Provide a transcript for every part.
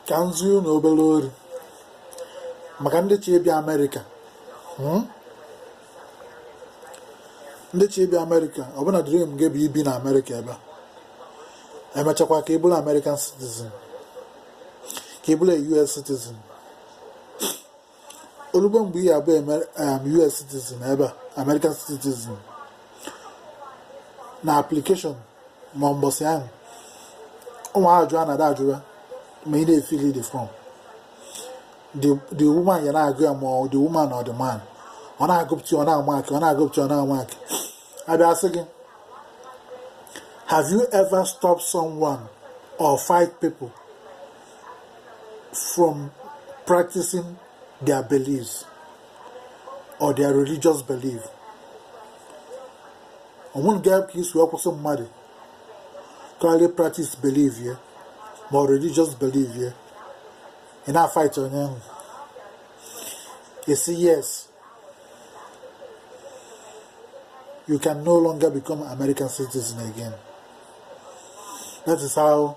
ka m zie unu obere ori maka ndị chọ ịbịa amerịka hmm? ndị chọ ịbịa amerịka ọbụna dream gị bụ ibi na amerịka ebe a emechakwa ka ị bụrụ american citizen ka ị bụrụ a us citizen olugbo mgbe ị ya-abụ US citizen ebe a American citizen na application ma mbọsị ahụ ụmụ ajụ a na-ada ajụwa ma ị na-efili the form the woman ya na-agụ ya ma the woman or the man ọ na-agụpụta ọ na-amaakị ọ na-agụpụta ọ na-amaakị abịa sị gị have you ever stopped someone or fight people from practicing their beliefs or their religious belief onwere ga ka i si wee kwụsị mmadụ ka ọ ghara practice belief ya ma ọ religious belief ya ị na-afight onye ahụ ị sị yes you can no longer become American citizen again that is how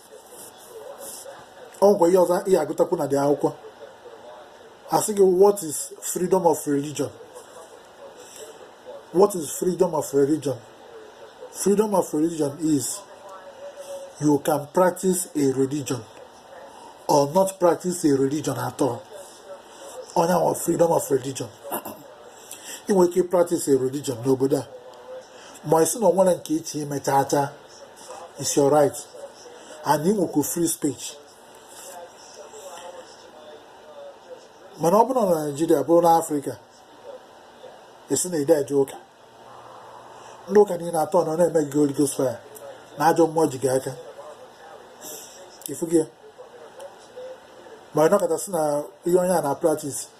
onwekwa ihe ọzọ ị ya-agụtakwu na the akwụkwọ asị gị what is freedom of religion what is freedom of religion freedom of religion is you can practice a religion or not practice a religion at all ọ ya wụ freedom of religion ị nwere ike practice a religion n'obodo a ma ị sị na onwere nke ị chọ ime chaa chaa it's your right and ị nwekwa free speech mana ọ bụrụ na naijiria bụrụ na afrịka ị sị na i de eje ụka ndị ụka niile atọ nọ na-eme gị Holy Ghost fire na ajọ mmụọ ji gị aka ifu gị ma ọ nọkata sị na ihe onye a na practice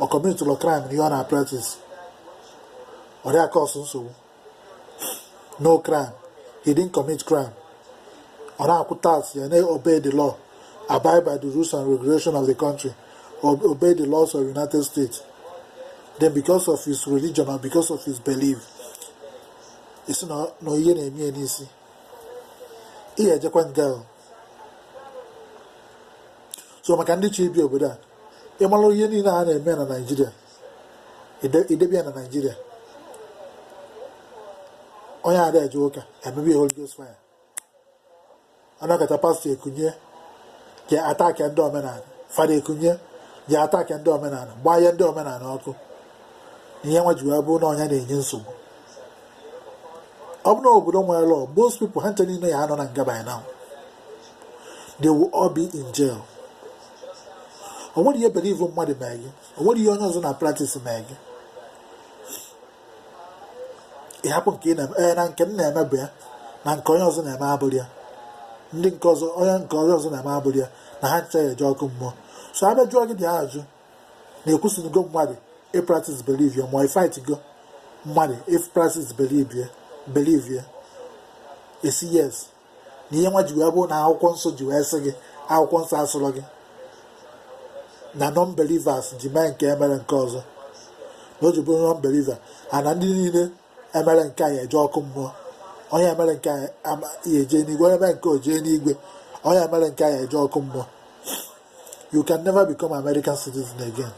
ọ kọmitụrụ kraịm na ihe ọ na-apraktis ọ dịghị akọsụ nsogbu no crime he didn't commit crime ọ na-akwụ tax ya na-obey the law abide by the rules and regulation of the country ob- obey the laws of united states then because of his religion or because of his belief ị sị na ihe na-eme ya n'isi ị ya-ejekwa nga. so maka ndị chọ ibi obodo a ịmara ihe niile a na-eme na naijiria idebe ya na naijiria onye ada eje ụka emebe ya Holy Ghost fire anọkata pastor ekunie je attack ndị omenala father ekunie je attack ndị omenala gbaa ihe ndị omenala ọkụ ihe nwa ji wee bụrụ na ọ ya na-enye nsogbu ọ bụrụ na obodo nwere law most people ha ncha niile ya anọ na nga by now they will all be in jail o nwere ihe belief mmadụ mee gị o nwere ihe onye ọzọ na practice mee gị ịhapụ nke ị na-eme na nke m na-eme bụ ya na nke onye ọzọ na-eme abụrụ ya ndị nke ọzọ onye nke onye ọzọ na-eme abụrụ ya na ha ncha ya eje ọkụ mmụọ so abịa jụọ gị dị ajụ na ịkwụsịrịgo mmadụ ịpractice belief ya ma ịfightgo mmadụ ịpractice belief ya ị sị yes na ihe nwa ji wee bụrụ na akwụkwọ nsọ ji wee sị gị akwụkwọ nsọ asịrọ gị na non-believers ji mee nke a mere nke ọzọ na o ji bụrụ non-believer ana ndị niile emerọ nke anyị eje ọkụ mmụọ onye mere nke anyị ya eje n'igwe onye mere nke o jee n'igwe onye emerọ nke anyị eje ọkụ mmụọ you can never become American citizen again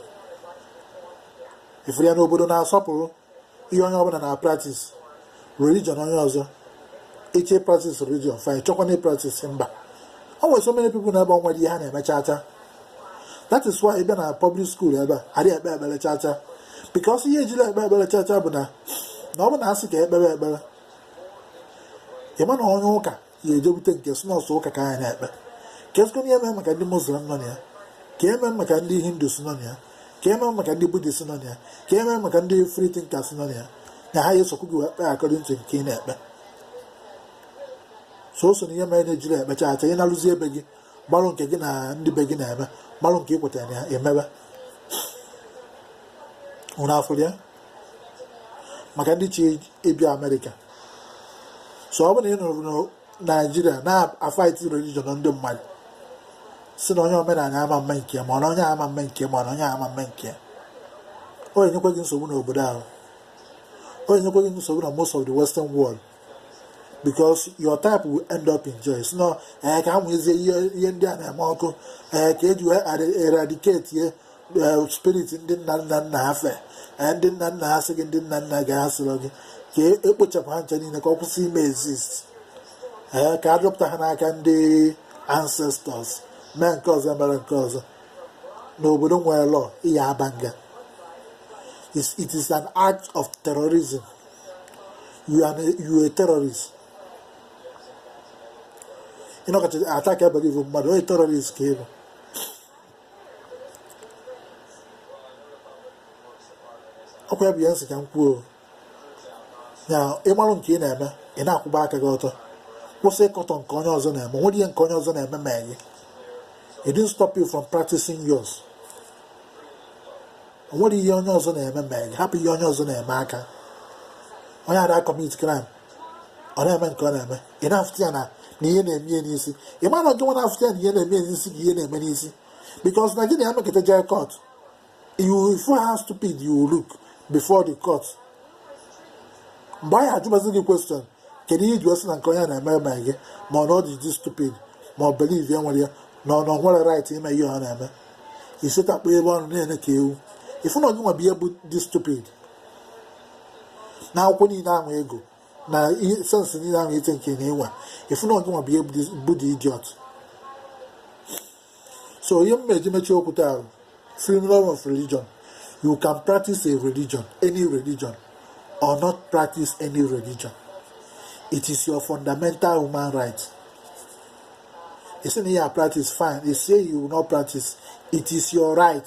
ị fụrụ ya n'obodo na-asọpụrụ ihe onye ọbụla na practice religion onye ọzọ ịchọ ịpractice religion fine chọkwa na practice mba o nwere so many people nọ ebe a o nwerọ ihe ha na-eme chacha that is why ị bịa na public school ebe a adịghị ekpe ekpere chacha because ihe ejirọ ekpe ekpere chacha bụ na na ọ bụ na asị ka ekpee ekpere ịma na onye ụka ya ejebute nke sị na ọ sọ ụka ka anyị na-ekpe keezikwa ihe mee maka ndị muslim nọ na ya ka eme maka ndị hindus nọ na ya ka eme maka ndị buddhist nọ na ya ka eme maka ndị free thinkers nọ na ya na ha ga-esokwu gị wee kpee according to nke ị na-ekpe so o so na ihe mere na ejirọ ekpe chacha ị naluzie be gị gbalụ nke gị na ndị be gị na-eme gbalụ nke ị kwetara na ya emebe ụra afụrụ ya maka ndị chọ ịbịa amerịka so ọ bụrụ na ị nọrọ na naijiria na-afight religion ndị mmadụ sị na onye omenala ama eme nke ma na onye ama eme nke ma na onye ama eme nke ọ ya enyekwa gị nsogbu n'obodo ahụ ọ ya enyekwa gị nsogbu na most of the western world because your type will end up in jail sị na ee eh, ka amụnyezie ihe ndị a na-eme ọkụ ee eh, ka eji wee eradicate ye spirit ndị nna nna nna ha fe eh, ndị nna nna ha sị gị ndị nna nna gị ha sịrọ gị ka ekpochapụ ha ncha niile ka ọ kwụsị ime exist eh, ka adọpụta ha n'aka ndị ancestors mee nke ọzọ mere nke ọzọ n'obodo nwere law ịya aba nga it is an act of terrorism you are a terrorist ịnọkata attack belief mmadụ onye terrorist ka ịbụ ọkwa ya bụ ya m sị ka m kwuo ya ịmarụ nke ị na-eme ị na-akwụba aka gị ọtọ kwụsị ịkọtọ nke onye ọzọ na-eme o nwere ihe nke onye ọzọ na-eme mee gị it didn't stop you from practicing yours o nwere ihe onye ọzọ na-eme mee gị hapụ ihe onye ọzọ na-eme aka onye ada commit crime ọ na-eme nke ọ na-eme ị na-afụta ya na na ihe na-eme ya n'isi ị ma na gị nwa na-afụta ya na ihe na-eme ya n'isi gị ihe na-eme n'isi because na gị na ya nọkata jee court you will feel how stupid you will look before the court mgbe anyị ajụbazi gị question kedu ihe i ji wee sị na nke onye na-eme eme gị ma ọ na ọ dị dị stupid ma ọ believe ya were ya na ọ na ọ nwere right ime ihe ọ na-eme isetakpọ ebe ọnụ na-ene ka ewu ịfụ na ọ gị nwa bụ ihe bụ the stupid na akwụkwọ niile ahụ ị gụ na ihe sense niile ahụ ite nke na ị nwe ịfụ na ọ gị nwa bụ ihe bụ the idiot so ihe m eji mechie okwu taa freedom of religion you can practice a religion any religion or not practice any religion it is your fundamental human right ị sị na ị ya-a practice fine ị sị you will not practice it is your right